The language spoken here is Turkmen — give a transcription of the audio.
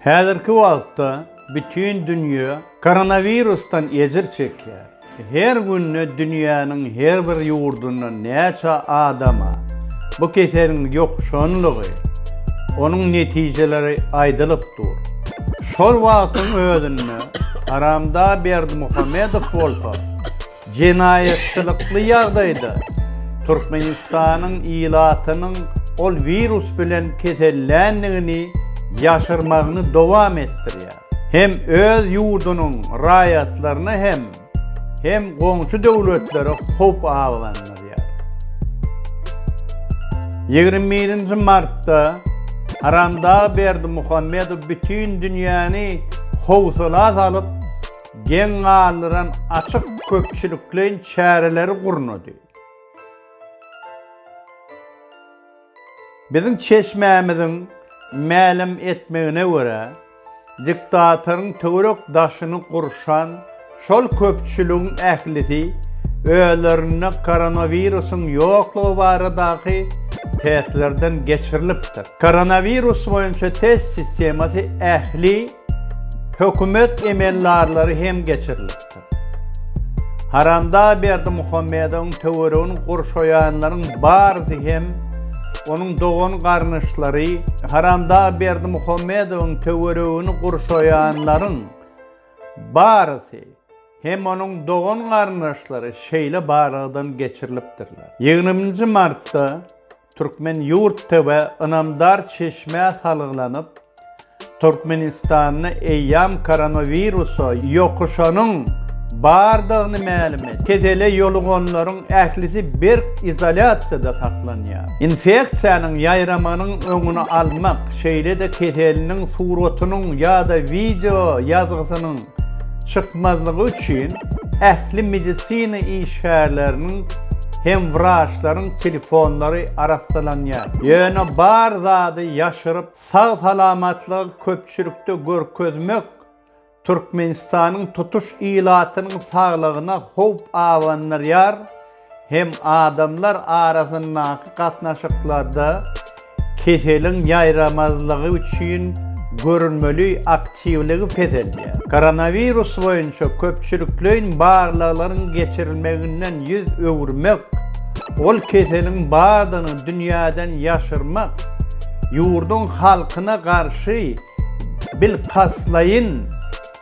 Häzirki wagtda bütin dünýä koronawirusdan ejir çekýär. Her günde dünýäniň her bir ýurdunda näçe adama bu keseliň ýokuşanlygy, onuň netijeleri aýdylyp dur. Şol wagtyň özünde Aramda Berdimuhamedow bolsa, Jenaýatçylykly ýagdaýda Türkmenistanyň ilatynyň ol wirus bilen keselländigini ýaşyrmagyny dowam etdirýär. Hem öz ýurdunyň raýatlaryna hem hem goňşy döwletlere howp abandarýar. Ýigrimi birinji martda Haramdag Berdimuhamedow bütin dünýäni howsala salyp, geň galdyran açyk köpçülikleýin çäreleri gurnady. Biziň çeşmämiziň mälim etmegine görä, diktatoryň töwerek daşyny gurşan şol köpçüligiň ählisi özlerinde koronawirusyň ýoklugy baradaky testlerden geçirilipdir. Koronawirus boýunça test sistemasy ähli Hökümet emeldarlary hem geçirilipdir. Haramda Berdimuhamedowyň töweregini gurşaýanlaryň barysy hem onuň dogan-garnyşlary, Haramda Berdimuhamedowyň töweregini gurşaýanlaryň barysy hem onuň dogan-garyndaşlary şeýle barlagdan geçirilipdirler. Ýigrimi nji martda Türkmen ýurt TW ynamdar çeşmä salgylanyp, Türkmenistanda eýýäm koronawirusa ýokuşanyň bardygyny mälim etdi. Kesele ýoluganlaryň ählisi berk izolýasiýada saklanýar. Infeksiýanyň ýaýramagynyň öňüni almak, şeýle-de keseliniň suratynyň ýa-da wideo ýazgysynyň çykmazlygy üçin ähli medisina işgärleriniň hem wraçlaryň telefonlary arassalanýar. Ýöne bar zady ýaşyryp, sag-salamatlygy köpçülikde görkezmek Türkmenistanyň tutuş ilatynyň saglygyna howp abandyrýar hem adamlar arasyndaky gatnaşyklarda keseliň ýaýramazlygy üçin görülmeli aktiwligi peselýär. Koronawirus boýunça köpçülikleýin barlaglaryň geçirilmeginden ýüz öwürmek, ol keseliň bardygyny dünýäden ýaşyrmak, ýurduň halkyna garşy bilkastlaýyn,